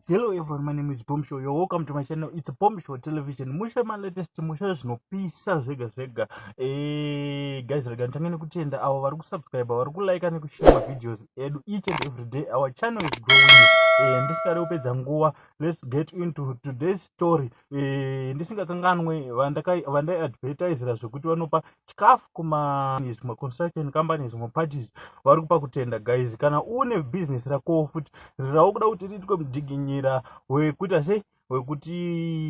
Hello everyone, my name is Bomb Show. You're welcome to my channel. It's Bomb Show Television. Musha my latest musha zvinopisa zvega zvega. Eh, guys, rega ntange nekutenda avo vari kusubscribe, vari kulike nekushare ma videos edu each and every day. Our channel is growing. Eh, ndisingade kupedza nguva. Let's get into today's story. Eh, ndisingakanganwe vandai advertisera zvekuti vanopa chikafu kumazvimwe construction companies zvimwe parties vari kupa kutenda guys kana une business rakowo futi rirawo kuda kuti riitwe mudziginyira wekuita sei wekuti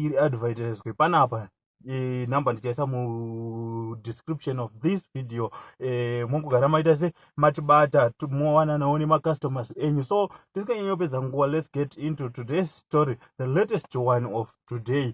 riadvertiswe panapa e, number ndichaisa mudescription of this video e, mongogara maita se matibata mowananawo nemacustomers enyu so tisikanyanyopedza nguva let's get into today's story the latest one of today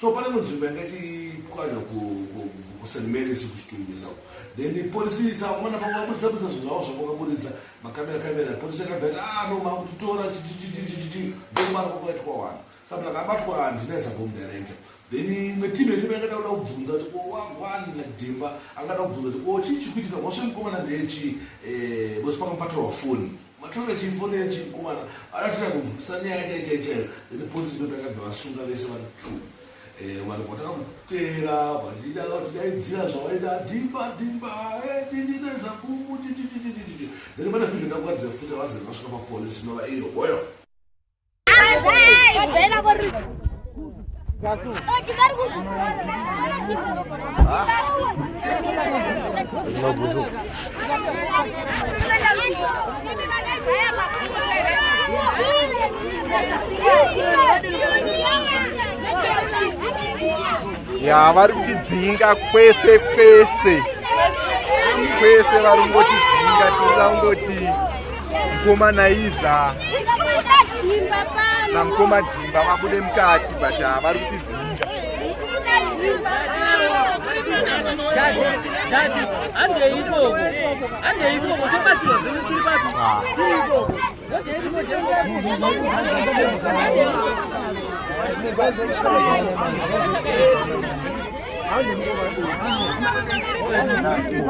so pane imwe nzvimbo yanga ichipwanya kust marys kuchitungisa then polisi isaumana pavo vabudisa budisa zvinhu zvavo zvavo vakaburitsa makamera kamera polisi yakabva yati ah no makutotora chichichichichichi ndokumara kwakaitwa wani saka ndakabatwa handina isabom director then imwe timu yese yakada kuda kubvunza kuti ko wagwani nadhimba angada kubvunza kuti ko chii chikuitika mhosva yemukomana ndeyechii eh, vose pakamupatirwa foni Matore chimfonera chikomana aratira kunzwisa nyaya yake chaichayo then police ndo takabva vasunga vese vari two eh, vanhu vatakamutera vatida vatidaidzira zvavaida dimba dimba tininaza eh, kumu chichichichichichi then pane fizvo ndakuratidza futi avazere vasvika papolice nova iro hoyo ya vari kutidzinga kwese kwese kwese vari kungotidzinga tinoda kungoti mkoma naiza namkoma dhimba vabude mukati but havari kuti dzinga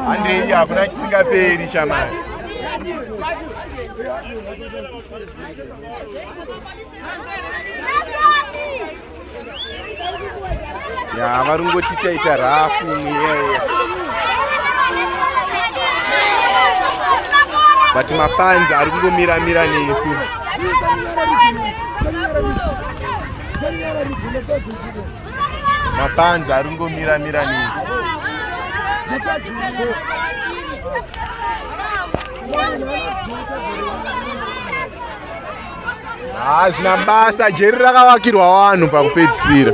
handei hakuna chisingaperi chamari ya vari ngoti taita rafu mweya but mapanzi ari kungomira mira nesu mapanzi ari kungomira mira nezi hazvina basa jeri rakavakirwa vanhu pakupedzisira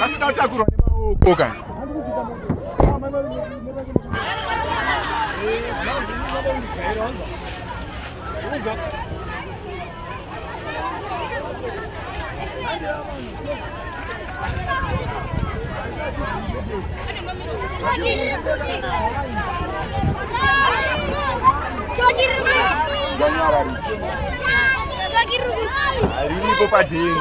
asida kutakurwa nemaoko ka Thank you. Riripo padheni.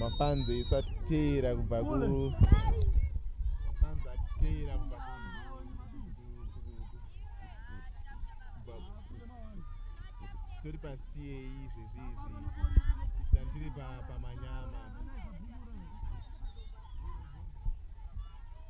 mafanzi isu atiteera kubva ku tori pasiyei izvezvi izvi tandiri pamanyama pa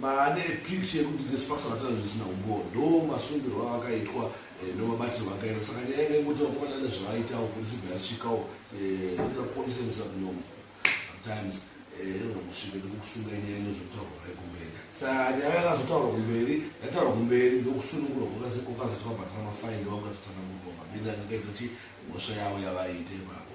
maane picture yekuti nesipakisa vatana zvisina umboo ndo masungirwo avakaitwa eh, ndomabatirwo akaita saka nyaya yanga ingoti vakomana ane zvavaitawo polisi bva yasvikawo eh, inoda polisi endisa kunyomo sometimes eh, inoda kusvika nekukusunga nyaya inozotaurwa vai kumberi sa nyaya yakazotaurwa kumberi yataurwa kumberi ndokusunungurwa kwakazoitwa batira mafaini vakukatotana mugoma bina ngakaitoti mhosva yavo yavaite ipapo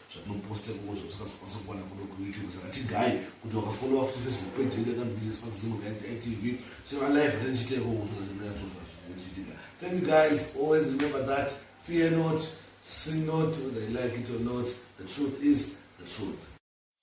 zvatinoposta ikoko zvamusingazokwanisa kuwana kuno kuyoutube saka tigaye kuti wakafollowa futi facebook page yedu yakandiriswa kuzimu itv so alive atandichiita ikoko zvinazvinazvichitika thank you guys always remember that fear not see not whether you like it or not the truth is the truth